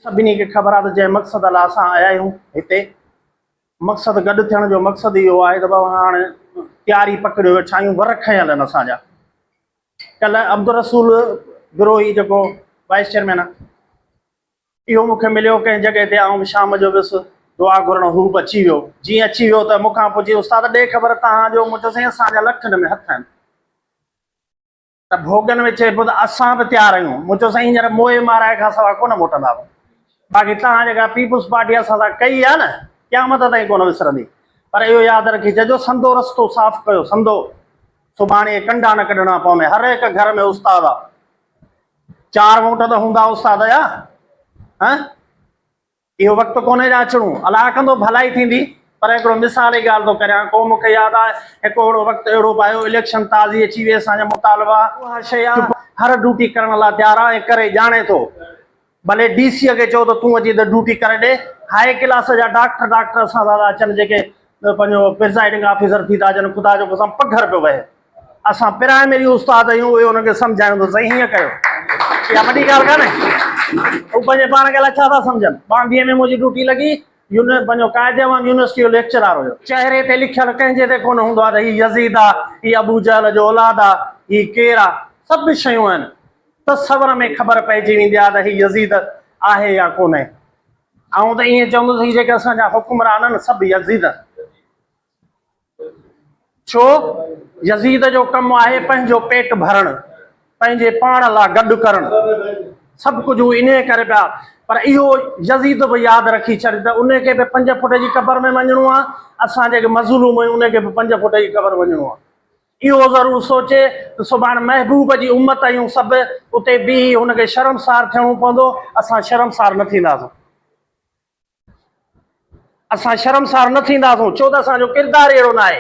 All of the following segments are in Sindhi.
سڀني کي خبر آهي ته جنهن مقصد لاء اسان آيا آهيون هتي، مقصد گڏ ٿيڻ جو مقصد اهو آهي ته بابا هاڻ تياري پڪڙيو ويٺا آهيون، ور کنيل آهن اسان جا. ڪلهه عبدالرسول بروهي جيڪو وائيس چيئرمين آهي، اهو مون کي مليو ڪنهن جڳهه تي، آئون شام جو ويس دعا گهرڻ، هو به اچي ويو. جيئن اچي ويو ته مون کان پڇي، استاد ڏي خبر تنهان جو؟ مون چيو سائين اسان جا لکن ۾ هٿ آهن. ته ڀوڳن ۾ چئبو ته اسان به تيار آهيون. مون چيو سائين هينئر موئي مارائي کان سواء ڪونه موٽندا به. باقي توهان جيڪا پيپلز پارٽي اسان سان ڪئي آهي نه قيامت تائين ڪونه وسرندي. پر اهو ياد رکي چئجو سندو رستو صاف ڪيو سندو سڀاڻي ڪنڊا نه ڪڍڻا پوندين. هر هڪ گهر ۾ استاد آ. چار ووٽ ته هوندا استاد جا. ها؟ اهو وقت ڪونهي جو اچڻو. الله ڪندو ڀلائي ٿيندي. پر هڪڙو مثال جي ڳالهه ٿو ڪريان. ڪو مون کي ياد آهي هڪ اهڙو وقت اهڙو به آيو اليڪشن تازي اچي وئي اسان جا مطالبا اها شيء آ هر ڊوٽي ڪرڻ لا تيار آ ۽ ڪري ڄاڻي ٿو ڀلي ڊي سي کي چئو ته تون اچي هتي ڊوٽي ڪري ڏي هاء ڪلاس جا ڊاڪٽر ڊاڪٽر اسان سان ٿا اچن جيڪي پنهنجو پرزائيڊنگ آفيسر ٿي ٿا اچن خدا جو قسم پگهر پيو وهي. اسان پرائمري استاد آهيون اهي انهن کي سمجهايون ته سائين هيئن ڪيو اها وڏي ڳالهه ڪانهي هو پنهنجي پاڻ کي الاء ڇا ٿا سمجهن ٻانڌيء ۾ منهنجي ڊيوٽي لڳي يونين پنهنجو قاعدي وانگ يونيورسٽي جو ليڪچرار هيو چهري تي لکيل ڪنهن جي تي ڪونه هوندو آهي ته هي يزيد آ هي ابو جهل جو اولاد آ هي ڪير آ سڀ شيون آهن تصور ۾ خبر پئجي ويندي آهي ته هي يزيد آهي يا ڪونه آئون ته ائين چوندس هي جيڪي اسان جا حڪمران آهن سڀ يزيد آهن ڇو؟ يزيد جو ڪم آهي پنهنجو پيٽ ڀرڻ، پنهنجي پاڻ لا گڏ ڪرڻ. سڀ ڪجهه هو انهيء ڪري پيا. پر اهو يزيد به ياد رکي ڇڏ ته ان کي به پنج فوٽ جي قبر ۾ وڃڻو آهي، اسان جيڪي مظلوم آهيون ان کي به پنج فوٽ جي قبر وڃڻو آهي. اهو ضرور سوچي ته سڀاڻ محبوب جي امت اهيون سڀ، اتي بيهي هن کي شرمسار ٿيڻو پوندو، اسان شرمسار نه ٿينداسون. اسان شرمسار نه ٿينداسون ڇو ته اسان جو ڪردار ئي اهڙو ناهي.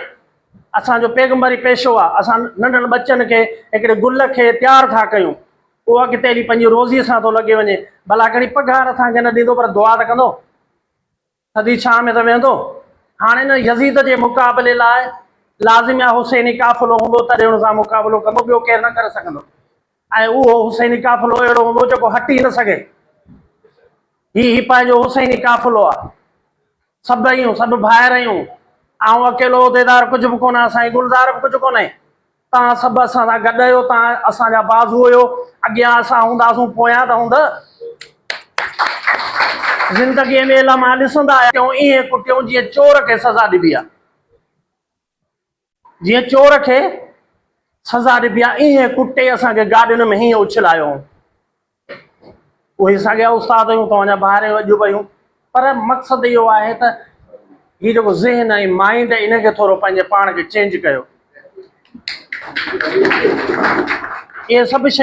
اسان جو پيغمبر ئي پيشو آهي. اسان ننڍڙن ٻچن کي هڪڙي گل کي تيار ٿا ڪيون. اهو اڳتي هلي پنهنجي روزي سان ٿو لڳي وڃي. ڀلا ڪهڙي پگهار اسان کي نه ڏيندو پر دعا ته ڪندو. ٿڌي ڇانهه ۾ ته ويهندو. هاڻي نه يزيد جي مقابلي لاء لازم يا حسيني قافلو هوندو تڏهن ان سان مقابلو ڪندو. ٻيو ڪير نه ڪري سگهندو. ۽ اهو حسيني قافلو اهڙو هوندو جيڪو هٽ ئي نه سگهي. هي هي پنهنجو حسيني قافلو آ. سڀ ايون، سڀ ڀائر ايون. آئون اڪيلو عهديدار ڪجهه به ڪونه، سائين گلزار به ڪجهه ڪونهي. تان سڀ اسان سان گڏ اهيو، تان اسان جا بازو اهيو. اڳيان اسان هونداسون، پويان ته هوند. زندگيء ۾ الامان ڏسندا آيا آهيون، ايئن ڪٽيون جيئن چور کي سزا ڏبي آ. جيئن چور کي سزا ڏبي آهي ايئن ڪٽي اسان کي گاڏين ۾ هيئن اڇلايو هئون. اهي ساڳيا استاد هيون توهان جا ڀائر هيون اڄ به هيون پر مقصد اهو آهي ته هي جيڪو ذهن ۽ مائنڊ ان کي ٿورو پنهنجي پاڻ کي چينج ڪيو. اهي سڀ شيون